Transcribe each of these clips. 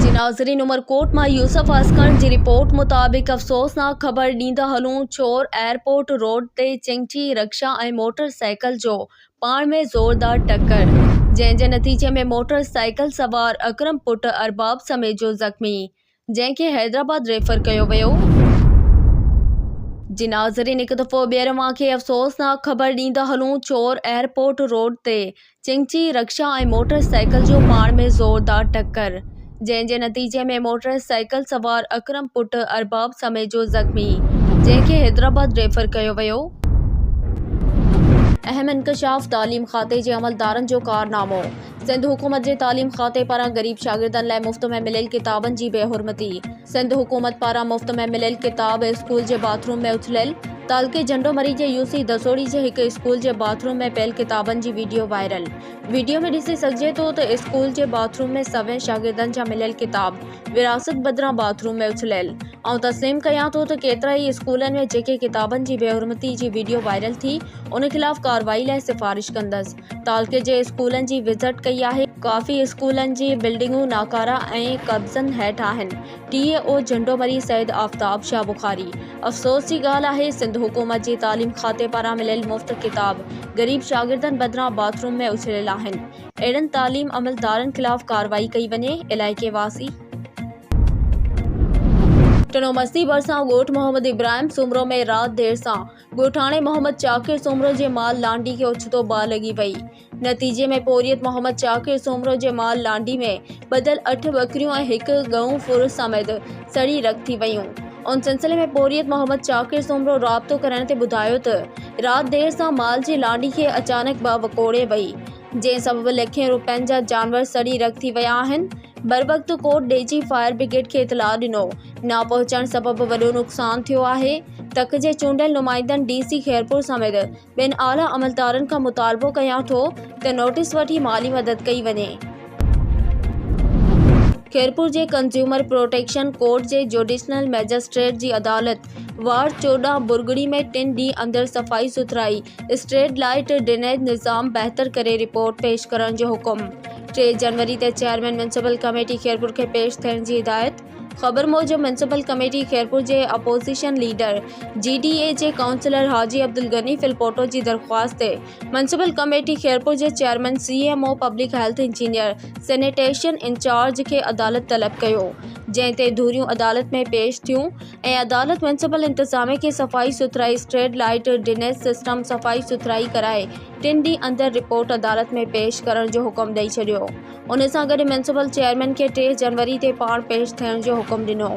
جي ناظرين عمرڪوٽ مان يوسف عسڪر جي رپورٽ مطابق افسوسناڪ خبر ڏيندا هلون ڇور ايئرپورٽ روڊ تي چنگچي رڪشا ۽ موٽر سائيڪل جو پاڻ ۾ زوردار ٽڪر جنهن جي نتيجي ۾ موٽر سائيڪل سوار اڪرم پٽ ارباب سميجو زخمي جنهن کي حيدرآباد ريفر ڪيو ويو. جي ناظرين هڪ دفعو ٻيهر اوهان کي افسوسناڪ خبر ڏيندا هلون چور ايئرپورٽ روڊ تي چنگچي رڪشا ۽ موٽر سائيڪل جو پاڻ ۾ زوردار ٽڪر جنهن جي نتيجي ۾ موٽر سائيڪل سوار اڪرم پٽ ارباب سميجو زخمي جنهن کي حيدرآباد ريفر ڪيو ويو. اهم انڪشاف تعليم کاتي جي عملدارن جو ڪارنامو. سنڌ حڪومت جي تعليم کاتي پاران غريب شاگردن لاء مفت ۾ مليل ڪتابن جي بي حرمتي، سنڌ حڪومت پاران مفت ۾ مليل ڪتاب اسڪول جي باٿ روم ۾ اٿليل، تعلقي جنڊو مري جي يو سي دسوڙي جي هڪ اسڪول جي باٿ روم ۾ پيل ڪتابن جي ويڊيو وائرل، ويڊيو ۾ ڏسي سگهجي ٿو ته اسڪول جي باٿ روم ۾ سوين شاگردن جا مليل ڪتاب ورهاست بدران باٿ روم ۾ اٿليل، آئون تسليم ڪيان ٿو ته ڪيترا ئي اسڪولن ۾ جيڪي ڪتابن جي بي حرمتي جي ويڊيو وائرل ٿي ان خلاف ڪارروائي لاء سفارش ڪندس. تعلقي جي اسڪولن جي وزٽ ڪئي آهي. ڪافي اسڪولن جي بلڊنگون ناڪاره ۽ قبضن هيٺ آهن، ٽي اي او جهنڊو مري سيد آفتاب شاهه بخاري، افسوس جي ڳالهه آهي سنڌ حڪومت جي تعليم کاتي پاران مليل مفت ڪتاب غريب شاگردن بدران باٿ روم ۾ اڇليل آهن، اهڙن تعليم عملدارن خلاف ڪارروائي ڪئي وڃي، علائقي واسي. ٽنو مستي ڀرسان ڳوٺ محمد ابراهيم سومرو ۾ رات دير سان. ڳوٺاڻي محمد چاڪر سومرو جي مال لانڍي کي اوچتو باهه لڳي وئي. نتيجي ۾ پورهيت محمد چاڪر سومرو جي مال لانڍي ۾ ٻڌل اٺ ٻڪريون ۽ هڪ ڳئون ڦر سميت سڙي رک ٿي ويون. ان سلسلي ۾ پورهيت محمد چاڪر سومرو رابطو ڪرڻ تي ٻڌايو ته رات دير سان مال جي لانڍي کي اچانڪ باهه وڪوڙي وئي جنهن سبب لکين روپين جا جانور سڙي رک ٿي ويا آهن. بروقت ڪوٽ ڏيجي فائر برگيڊ کي اطلاع ڏنو. نه پهچڻ سبب وڏو نقصان ٿيو آهي، تڪ جي چونڊيل نمائندن ڊي سي خيرپور سميت ٻين اعليٰ عملدارن کان مطالبو ڪيان ٿو ته نوٽيس وٺي مالي مدد ڪئي وڃي. خيرپور جي ڪنزيومر پروٽيڪشن ڪورٽ جي جوڊيشنل مئجسٽريٽ جي عدالت وارڊ چوڏهن برگڙي ۾ ٽن ڏينهن اندر صفائي سٿرائي، اسٽريٽ لائيٽ، ڊرينيج نظام بهتر ڪري رپورٽ پيش ڪرڻ جو حڪم، ٽي جنوري تي چيئرمين ميونسپل ڪميٽي خيرپور کي پيش ٿيڻ جي هدايت. خبر موجب ميونسپل ڪميٽي خيرپور جي opposition leader G D A جي ڪائونسلر حاجي عبدالغني ڦلپوٽو جي درخواست تي ميونسپل ڪميٽي خيرپور جي chairman C M O public health engineer sanitation incharge کي عدالت طلب ڪيو جنهن تي ڌريون عدالت ۾ پيش ٿيون ۽ عدالت ميونسپل انتظاميه کي صفائي سٿرائي اسٽريٽ لائيٽ ڊنيز سسٽم صفائي سٿرائي ڪرائي ٽن ڏينهن اندر رپورٽ عدالت ۾ پيش ڪرڻ جو حڪم ڏئي ڇڏيو ان سان گڏ ميونسپل چيئرمين کي ٽي جنوري تي پاڻ پيش ٿيڻ جو حڪم ڏنو.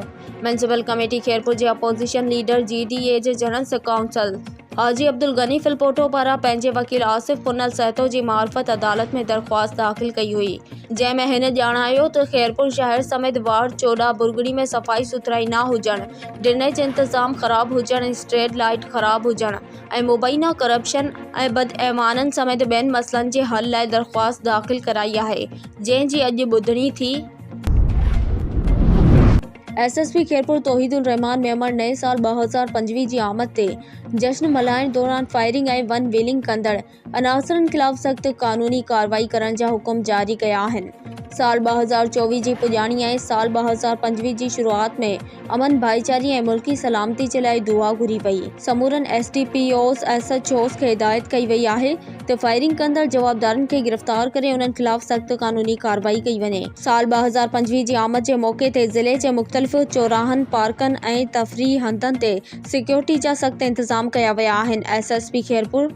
ميونسپل ڪميٽي خيرپور جي opposition leader G D A جي جنرل ڪائونسل حاجي عبدالغني ڦلپوٽو پاران پنهنجي وڪيل آصف پنل سهتو جي معرفت عدالت ۾ درخواست داخل ڪئي هئي جنهن ۾ هن ڄاڻايو ته خيرپور شهر سميت وارڊ چوڏهن برگڙي ۾ صفائي سٿرائي نه هجڻ، ڊرينيج انتظام خراب هجڻ ۽ اسٽريٽ لائيٽ خراب هجڻ، ۽ مبينا ڪرپشن ۽ بدعنوانن سميت ٻين مسئلن جي حل لاء درخواست داخل ڪرائي آهي جنهن جي اڄ ٻڌڻي ٿي. S S P Khairpur Tauheed ur Rahman Memon نئين سال ٻه هزار پنجويهه جي آمد تي جشن ملهائڻ دوران فائرنگ ۽ ون ويلنگ ڪندڙ عناصرن خلاف سخت قانوني ڪارروائي ڪرڻ جا حڪم جاري ڪيا آهن سال ٻه هزار چوويهه جي پڄاڻي ۽ سال ٻه هزار پنجويهه جي شروعات ۾ امن ڀائيچاري ۽ ملڪي سلامتي جي لاء دعا گهري وئي سمورن S D P Os S H Os کي هدايت ڪئي وئي آهي ته فائرنگ ڪندڙ جوابدارن کي گرفتار ڪري انهن خلاف سخت قانوني ڪارروائي ڪئي وڃي سال ٻه هزار پنجويهه جي آمد جي موقعي تي ضلعي جي مختلف چوراهن پارڪن ۽ تفريحي هنڌن تي سيڪيورٽي جا سخت انتظام ڪيا ويا آهن ايس ايس پي خيرپور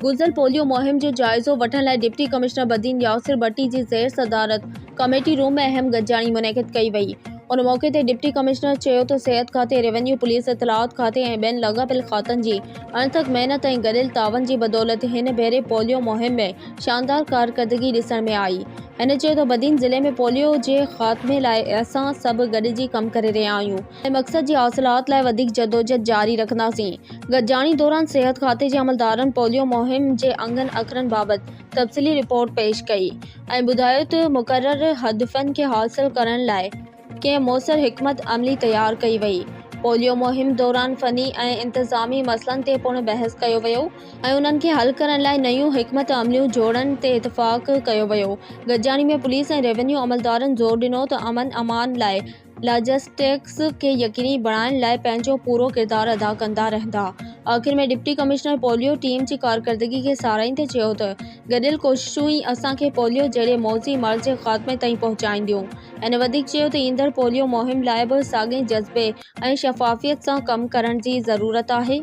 گذريل پوليو مهم جو جائزو وٺڻ لاء ڊپٽي ڪمشنر بدين ياسر ڀٽي جي زير صدارت ڪميٽي روم ۾ اهم گڏجاڻي منعقد ڪئي وئي ان موقعي تي ڊپٽي ڪمشنر چيو ته صحت کاتي ريونيو پوليس اطلاعات کاتي ۽ ٻين لاڳاپيل کاتن جي اڻٿڪ محنت ۽ گڏيل تعاون جي بدولت هن ڀيري پوليو مهم ۾ شاندار ڪارڪردگي ڏسڻ ۾ آئي هن چيو ته بدين ضلعي ۾ پوليو جي خاتمي لاء اسان سڀ گڏجي ڪم ڪري رهيا آهيون ۽ مقصد جي حاصلات لاء وڌيڪ جدوجھد جاري رکنداسين. گڏجاڻي دوران صحت کاتي جي عملدارن پوليو مهم جي انگن اکرن بابت تفصيلي رپورٽ پيش ڪئي ۽ ٻڌايو ته مقرر ھدفن کي حاصل ڪرڻ لاء ڪئين موثر حڪمت عملي تيار ڪئي وئي. پوليو مهم دوران فني ۽ انتظامي مسئلن تي پڻ بحث ڪيو ويو ۽ انهن کي حل ڪرڻ لاء نيون حڪمت عمليون جوڙڻ تي اتفاق ڪيو ويو. گڏجاڻي ۾ پوليس ۽ روينيو عملدارن زور ڏنو ته امن امان لاء لاجسٽڪس کي يقيني بڻائڻ لاء پنهنجو پورو ڪردار ادا ڪندا رهندا. آخر ۾ ڊپٽي ڪمشنر پوليو ٽيم جي ڪارڪردگي کي ساراهيندي چيو ته گڏيل ڪوششون ئي اسان کي پوليو جهڙي موذي مرض جي خاتمي تائين پهچائينديون. هن وڌيڪ چيو ته ايندڙ پوليو مهم لاء به ساڳئي جذبي ۽ شفافيت سان ڪم ڪرڻ جي ضرورت آهي.